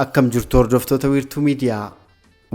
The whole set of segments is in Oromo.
Akkam jirtu hordoftoota wiirtuu miidiyaa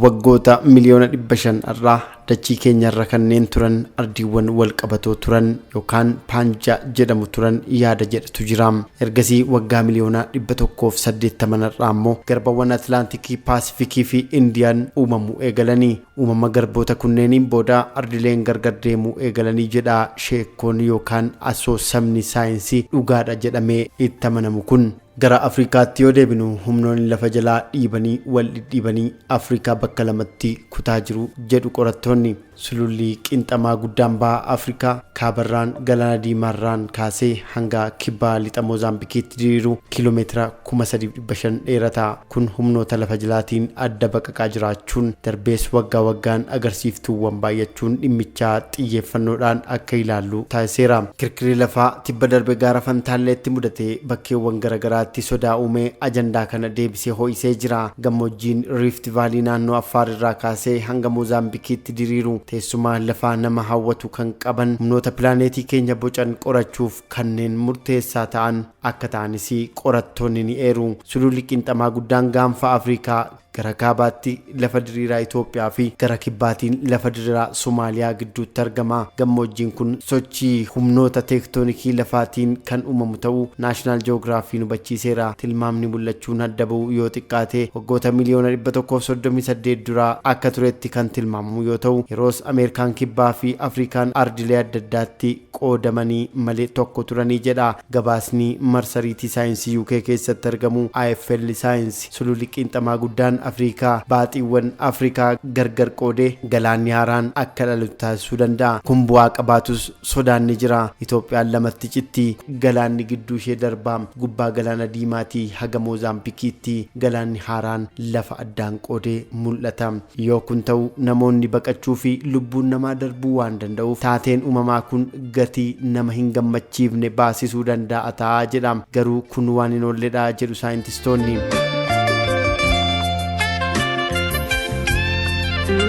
waggoota miliyoona dhibba shan irraa dachii keenyarra kanneen turan ardiiwwan wal qabatoo turan yookaan paanjaa jedhamu turan yaada jedhatu jira. Ergasii waggaa miliyoona dhibba tokkoof saddeettaman irraa immoo garbawwan Atlaantikii, Paasifikii fi Indiyaan uumamuu eegalanii Uumama garboota kunneeniin booda ardileen gargar deemuu eegalanii jedha sheekkoon yookaan asoosamni saayinsii dhugaadha jedhamee itti amanamu kun. Gara Afrikaatti yoo deebinu humnoonni lafa jalaa dhiibanii wal dhidhiibanii Afrikaa bakka lamatti kutaa jiru jedhu qorattoonni. Sululli qinxamaa guddaan baha Afrikaa kaabarraan Galaana Diimaarraan kaasee hanga kibba lixa Moozaambikiitti diriiru kiilomeetira 3,500 dheerata. Kun humnoota lafa jalaatiin adda baqaqaa jiraachuun, darbees waggaa waggaan agarsiiftuuwwan baay'achuun dhimmichaa xiyyeeffannoodhaan akka ilaallu taasiseera. Kirkirri lafaa tibba darbe gaara Fantaalleetti mudate bakkeewwan gara garaatti sodaa uumee ajandaa kana deebisee ho'isee jira. Gammoojjiin Riift Vaalii naannoo Affaar irraa kaasee hanga Moozaambikiitti diriiru teessuma lafaa nama hawwatu kan qaban humnoota pilaaneetii keenya bocan qorachuuf, kanneen murteessaa ta'an akka ta'anis qorattoonni ni eeru. Sululli Qiinxamaa guddaan gaanfa Afrikaa gara kaabaatti lafa diriiraa Itoophiyaa fi gara kibbaatiin lafa diriiraa Somaaliyaa gidduutti argama. Gammoojjiin kun sochii humnoota teektoonikii lafaatiin kan uumamu ta'uu Naashinaal Ji'oogiraafiin hubachiiseera. Tilmaamni mul'achuun adda ba'u yoo xiqqaate waggoota miliyoona 138 dura akka turetti kan tilmaamamu yoo ta'u, yeroos Ameerikaan Kibbaa fi Afrikaan ardilee adda addaatti qoodamanii malee tokko turanii jedha gabaasni marsariitii saayinsii UK keessatti argamu IFL Science. Sululli Qiinxamaa Guddaan Afriikaa baaxiiwwan Afrikaa gargar qoodee galaanni haaraan akka dhalatu taasisuu danda'a. Kun bu'aa qabaatus sodaan ni jira. Itoophiyaan lamatti citti. Galaanni gidduu ishee darba. Gubbaa Galaana Diimaatii haga Moozaambikiitti galaanni haaraan lafa addaan qoodee mul'ata. Yoo kun ta'u namoonni baqachuu fi lubbuun namaa darbuu waan danda'uuf taateen umamaa kun gatii nama hin gammachiifne baasisuu dandaa'a ta'a jedha. Garuu kun waan hin oolledha jedhu saayintistoonni.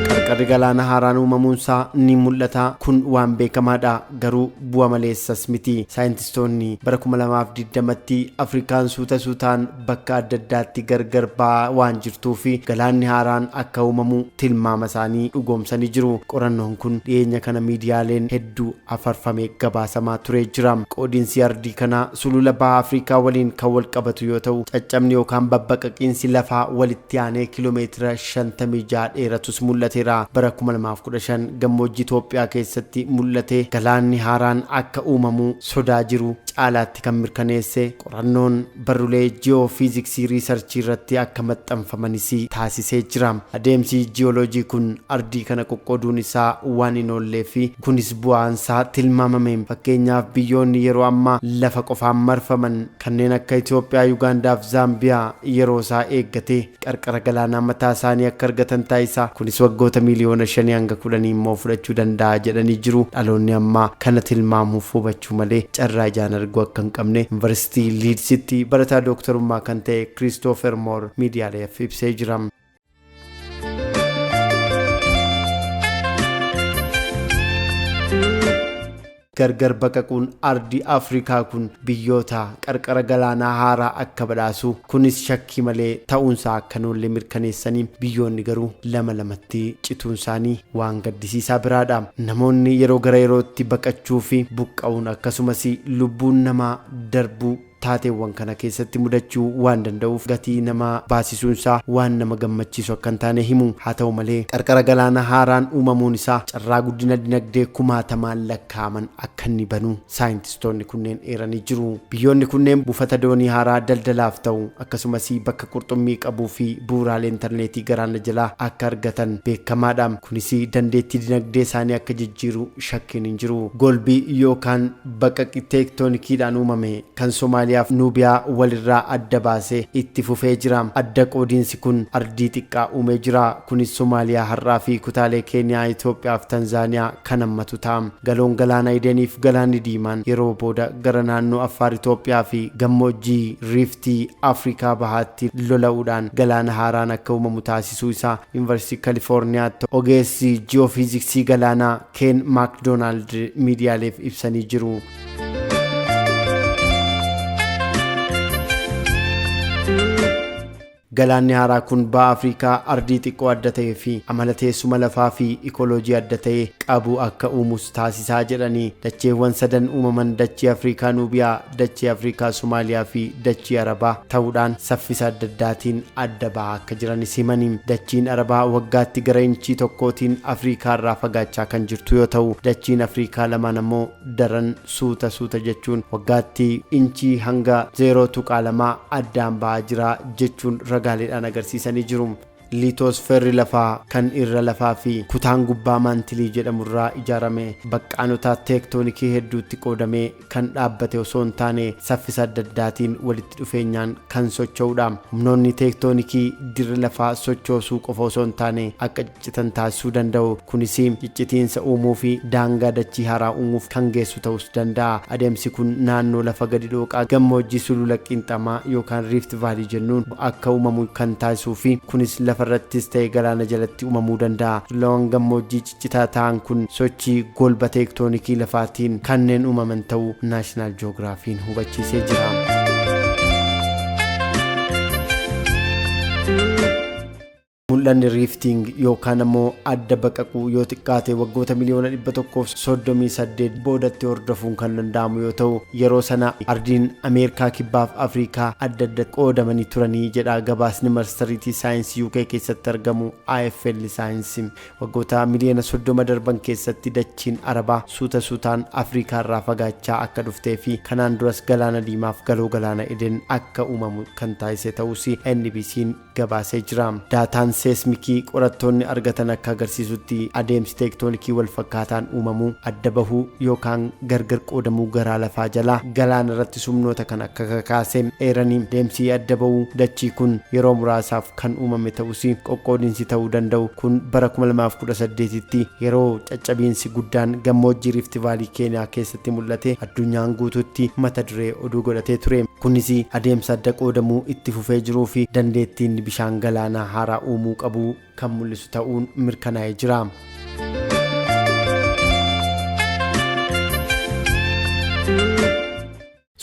Qarqarri galaana haaraan uumamuunsaa ni mul'ata. Kun waan beekamaadha. Garuu bu'a maleessas miti. Saayintistoonni bara 2020tti Afrikaan suuta suutaan bakka adda addaatti gargar ba'aa waan jirtuuf galaanni haaraan akka uumamu tilmaama isaanii dhugoomsanii jiru. Qorannoon kun dhiyeenya kana miidiyaaleen hedduu afarfame gabaasamaa turee jira. Qoodinsi ardii kanaa sulula baha Afrikaa waliin kan wal qabatu yoo ta'u, caccabni yookaan babbaqaqiinsi lafaa walitti aanee kilomeetira 56 dheeratus mul'ateera. Bara 2015 gammoojjii Itoophiyaa keessatti mul'ate galaanni haaraan akka uumamu sodaa jiru caalaatti kan mirkaneesse qorannoon barrulee ji'oofiiziksii riisarchii irratti akka maxxanfamanis taasisee jira. Adeemsi ji'ooloojii kun ardii kana qoqqooduun isaa waan hin oolleefi kunis bu'aan isaa tilmaamame. Fakkeenyaaf biyyoonni yeroo ammaa lafa qofaan marfaman kanneen akka Itoophiyaa, Yugaandaaf Zaambiyaa yeroo isaa eeggatee. qarqara galaanaa mataa isaanii akka argatan taasisa. Kunis waggoota miiliyoona shanii hanga kudhanii immoo fudhachuu danda'a jedhanii jiru. Dhaloonni ammaa kana tilmaamuuf hubachuu malee carraa ijaan arguu akka hin qabne Yunivarsiitii Liidsitti barataa dooktarummaa kan ta'e Kiristoofer Moor miidiyaaleef ibsee jira. Gargar baqaquun ardii Afrikaa kun biyyoota qarqara galaanaa haaraa akka badhaasu kunis shakkii malee ta'uunsaa akka hin oolle mirkaneessanii, biyyoonni garuu lama lamatti cituunsaanii waan gaddisiisaa biraadha. Namoonni yeroo gara yerootti baqachuufi buqqa'uun akkasumas lubbuun namaa darbuu. Taateewwan kana keessatti mudachuu waan danda'uuf gatii nama baasisuun isaa waan nama gammachiisu akka hin taane himu. Haa ta'u malee, qarqara galaana haaraan uumamuun isaa carraa guddina dinagdee kumaatamaan lakkaa'aman akka inni banu saayintistoonni kunneen eeranii jiru. Biyyoonni kunneen buufata doonii haaraa daldalaaf ta'u, akkasumas bakka qurxummii qabuu fi bu'uuraalee intarneetii galaana jalaa akka argatan beekamaadha. Kunis dandeettii dinagdee isaanii akka jijjiiru shakkiin hin jiru. Golbi yookaan Baqaqi teektoonikiidhaan uumame kan Somaaliyaaf Nuubiyaa wal irraa adda baase itti fufee jira. Adda qoodiinsi kun ardii xiqqaa uumee jira. Kunis Somaaliyaa har'aa fi kutaalee Keeniyaa, Itoophiyaa fi Tanzaaniyaa kan hammatu ta'a. Galoon Galaana Edenii fi Galaanni Diimaan yeroo booda gara naannoo Affaar Itoophiyaa fi gammoojjii Riiftii Afrikaa Bahaatti lola'uudhaan galaana haaraan akka uumamu taasisuu isaa Yunivarsiitii Kalifoorniyaatti ogeessi ji'oofiiziksii galaanaa Keen Maakdoonaald miidiyaaleef ibsanii jiru. Galaanni haaraa kun baha Afrikaa ardii xiqqoo adda ta'ee fi amala teessuma lafaa fi ikoloojii adda ta'e qabu akka uumus taasisaa jedhanii dacheewwan sadan uumaman dachee Afrikaa Nuubiyaa dachii Afrikaa, Somaaliyaa fi dachii Arabaa ta'uudhaan saffisa adda addaatiin adda ba'aa akka jiranis himani. Dachiin Arabaa waggaatti gara inchii tokkootiin Afrikaa irraa fagaachaa kan jirtu yoo ta'u, dachiin Afrikaa lamaan ammoo daran suuta suuta jechuun waggaatti inchii hanga 0.2 addaan ba'aa jira jechuun ragaaleedhaan agarsiisanii jiru. Liitoosferri lafaa kan irra lafaa fi kutaan gubbaa maantilii jedhamu irraa ijaarame baqqaanota teektoonikii hedduutti qoodamee kan dhaabbate osoo hin taane saffisa adda addaatiin walitti dhufeenyaan kan socho'udha. Humnoonni teektoonikii dirra lafaa sochoosuu qofa osoo hin taane akka ciccitan taasisuu danda'u. Kunis ciccitiinsa uumuu fi daangaa dachii haaraa uumuuf kan geessu ta'us danda'a. Adeemsi kun naannoo lafa gadi dhooqaa gammoojjii sulula qiinxamaa yookaan riift vaalii jennuun akka umamu kan taasisuu fi kunis lafa irrattis ta'e galaana jalatti umamuu danda'a. Tulleewwan gammoojjii ciccitaa ta'an kun sochii golba teektoonikii lafaatiin kanneen umaman ta'uu Naashinaal Joogiraafiin hubachiisee jira. Mul'anni riiftiing yookaan ammoo adda baqaquu yoo xiqqaate waggoota miliyoona 138 boodatti hordofuun kan danda'amu yoo ta'u yeroo sana ardiin Ameerikaa kibbaaf Afriikaa adda adda qoodamanii turanii jedha gabaasni marsariitii saayinsii UK keessatti argamu AFL saayinsii. Waggoota miliyoona 30 darban keessatti dachiin Arabaa suuta suutaan Afriikaa irraa fagaachaa akka dhuftee fi kanaan duras galaana diimaaf galoo galaana Eden akka uumamu kan taasise ta'uus NBC'n gabaasee jira. Daataan seesmikii qorattoonni argatan akka agarsiisutti adeemsi teektoonikii walfakkaataan uumamuu, adda bahuu yookaan gargar qoodamuu garaa lafaa jalaa galaana irratti sumnoota kan akka kakaase eeranii, adeemsi adda bahuu dachii kun yeroo muraasaaf kan uumame ta'us qoqqoodinsi ta'uu danda'u kun bara 2018tti yeroo caccabiinsi guddaan gammoojjii Riifti Vaalii Keeniyaa keessatti itti mul'ate addunyaan guutuutti mata duree oduu godhatee ture. Kunis adeemsa adda qoodamuu itti fufee jiruu fi dandeettiin bishaan galaanaa haaraa uumuu qabu kan mul'isu ta'uun mirkanaa'ee jira.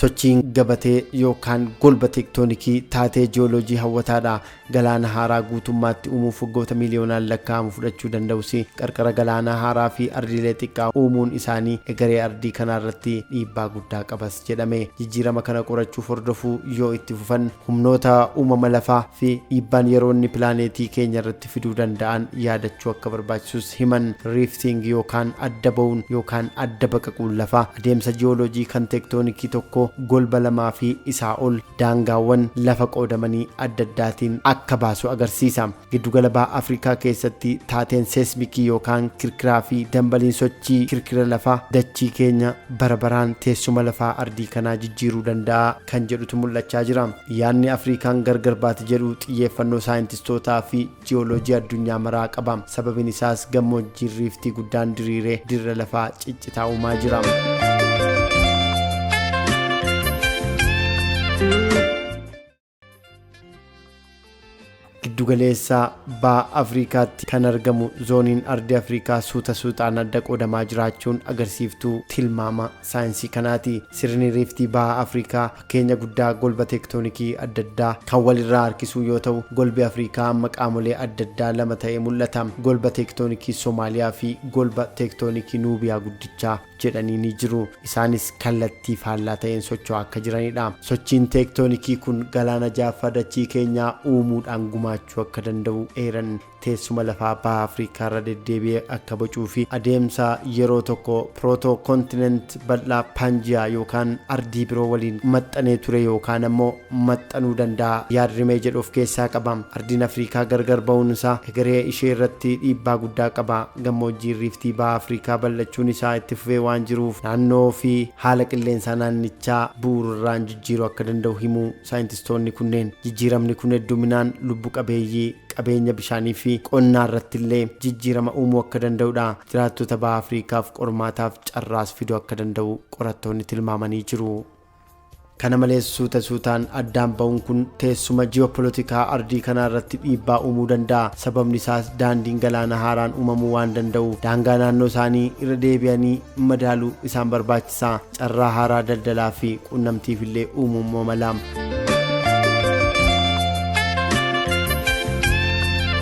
Sochiin gabatee yookaan golba teektoonikii taatee ji'ooloojii hawwataadha. Galaana haaraa guutummaatti uumuuf waggoota miiliyoonaan lakkaa'amu fudhachuu danda'us, qarqara galaanaa haaraa fi ardiilee xiqqaa uumuun isaanii egeree ardii kanaa irratti dhiibbaa guddaa qabas jedhame. Jijjiirama kana qorachuuf hordofuu yoo itti fufan, humnoota uumama lafaa fi dhiibbaan yeroo inni pilaaneetii keenya irratti fiduu danda'an yaadachuu akka barbaachisus himan. Riiftiingi yookaan adda ba'uun yookaan adda baqaquun lafaa, Adeemsa ji'ooloojii kan teektoonikii tokko golba lamaa fi isaa ol daangaawwan lafa qoodamanii adda addaatiin akka baasu agarsiisa. Giddu gala Baha Afrikaa keessatti taateen seesmikii yookaan kirkiraa fi dambaliin sochii kirkira lafaa dachii keenya bara baraan teessuma lafaa ardii kanaa jijjiiruu danda'a kan jedhutu mul'achaa jira. Yaadni Afriikaan gargar baati jedhu xiyyeeffannoo saayintistootaa fi Ji'ooloojii addunyaa maraa qaba. Sababiin isaas gammoojjiin riiftii guddaan diriiree dirra lafaa ciccitaa uumaa jira. Giddugaleessa baha Afrikaatti kan argamu zooniin ardi Afrikaa suuta suutaan adda qoodamaa jiraachuun agarsiiftuu tilmaama saayinsii kanaati. Sirni riiftii baha Afrikaa Fakkeenya guddaa golba teektoonikii adda addaa kan wal irraa harkisuu yoo ta'u, golbi Afriikaa amma qaamolee adda addaa lama ta'ee mul'ata, golba teektoonikii Somaaliyaa fi golba teektoonikii Nuubiyaa Guddichaa jedhanii ni jiru. Isaanis kallattii faallaa ta'een socho'aa akka jirani dha. Sochiin teektoonikii kun galaana ja'affaa dachii keenyaa uumuudhaan gumaachuu akka danda'u eeran. teessuma lafaa Baha Afrikaa irra deddeebi'ee akka bocuu fi adeemsa yeroo tokko proto-continent bal'aa Panjiyaa yookaan ardii biroo waliin maxxanee ture yookaan ammoo maxxanuu danda'a yaad-rimee jedhu of keessaa qaba. Ardiin Afrikaa gargar ba'uun isaa egeree ishee irratti dhiibbaa guddaa qaba. Gammoojjiin Riiftii Baha Afrikaa bal'achuun isaa itti fufee waan jiruuf naannoo fi haala qilleensaa naannichaa bu'uurarraan jijjiiruu akka danda'u himu. Saayintistoonni kunneen jijjiiramni kun hedduminaan lubbu qabeeyyii, qabeenya bishaanii fi qonnaa irratti illee jijjiirama uumuu akka danda'u dha. Jiraattota Baha Afriikaaf qormaataaf carraas fiduu akka danda'u qorattoonni tilmaamanii jiru. Kana malees suuta suutaan addaan ba'uun kun teessuma ji'oopolotikaa ardii kanaa irratti dhiibbaa uumuu danda'a. Sababni isaas daandiin galaana haaraan uumamuu waan danda'uuf daangaa naannoo isaanii irra deebi'anii madaaluu isaan barbaachisa. sa, carraa haaraa daldalaa fi quunnamtiif illee uumuu immoo mala.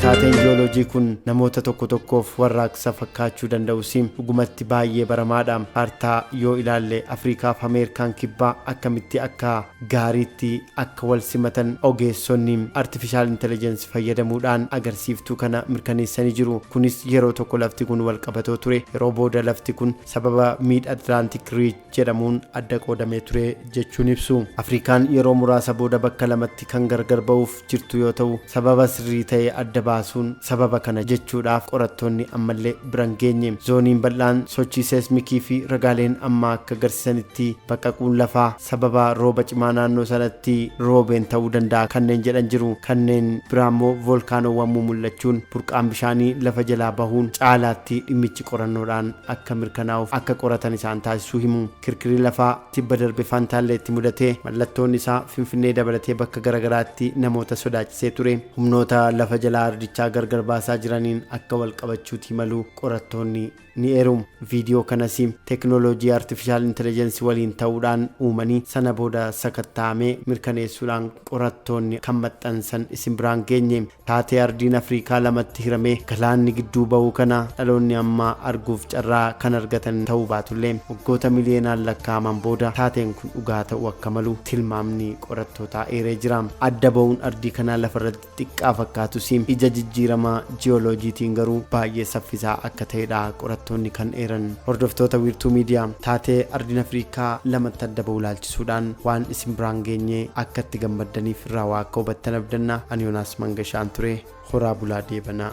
Taateen jiyooloojii kun namoota tokko tokkoof warraaqsa fakkaachuu danda'us dhugumatti baay'ee baramaadha. Kaartaa yoo ilaalle Afrikaa fi Ameerikaan kibbaa akkamitti akka gaariitti akka wal simatan ogeessonni artifishaal intelijensi fayyadamuudhaan agarsiiftuu kana mirkaneessanii jiru. Kunis yeroo tokko lafti kun wal qabatoo ture. Yeroo booda lafti kun sababa Mid Atlantic Ridge jedhamuun adda qoodamee ture jechuun ibsu. Afrikaan yeroo muraasa booda bakka lamatti kan gargar ba'uuf jirtu yoo ta'u, sababa sirrii ta'e adda baasuun sababa kana jechuudhaaf qorattoonni ammallee bira hin geenye. Zooniin bal'aan sochii seesmikii fi ragaaleen ammaa akka agarsiisanitti baqaquun lafaa sababa rooba cimaa naannoo sanatti roobeen ta'uu danda'a kanneen jedhan jiru. Kanneen biraammoo voolkaanoowwan mumul'achuun burqaan bishaanii lafa jalaa bahuun caalaatti dhimmichi qorannoodhaan akka mirkanaa'uuf akka qoratan isaan taasisuu himu. Kirkirri lafaa tibba darbe Fantaalleetti mudate mallattoon isaa Finfinnee dabalatee bakka garagaraatti namoota sodaachisee ture. Humnoota lafa jalaa ardichaa gargar baasaa jiraniin akka wal qabachuutii malu qorattoonni ni eeru. Viidiyoo kanas teknooloojii Artifishaal Intelejensi waliin ta'uudhaan uumanii sana booda sakattaa'amee mirkaneessuudhaan qorattoonni kan maxxansan isin biraan geenye. Taatee Ardiin Afriikaa lamatti hiramee galaanni gidduu bahuu kana dhaloonni ammaa arguuf carraa kan argatan ta'uu baatullee waggoota miliyeenaan lakkaa'aman booda taateen kun dhugaa ta'uu akka malu tilmaamni qorattootaa eeree jira. Adda bahuun ardii kanaa lafarratti xiqqaa fakkaatus ija jijjiirama ji'ooloojiitiin garuu baay'ee saffisaa akka ta'edha qorattoonni kan eeran. Hordoftoota Wiirtuu Miidiyaa taatee Ardiin Afriikaa lamatti adda bahu ilaalchisuun. suudhaan waan isin biraan geenye akka itti gammaddaniif irraa waa akka hubattan abdanna ani yonaas mangashaan ture horaa bulaa deebanaa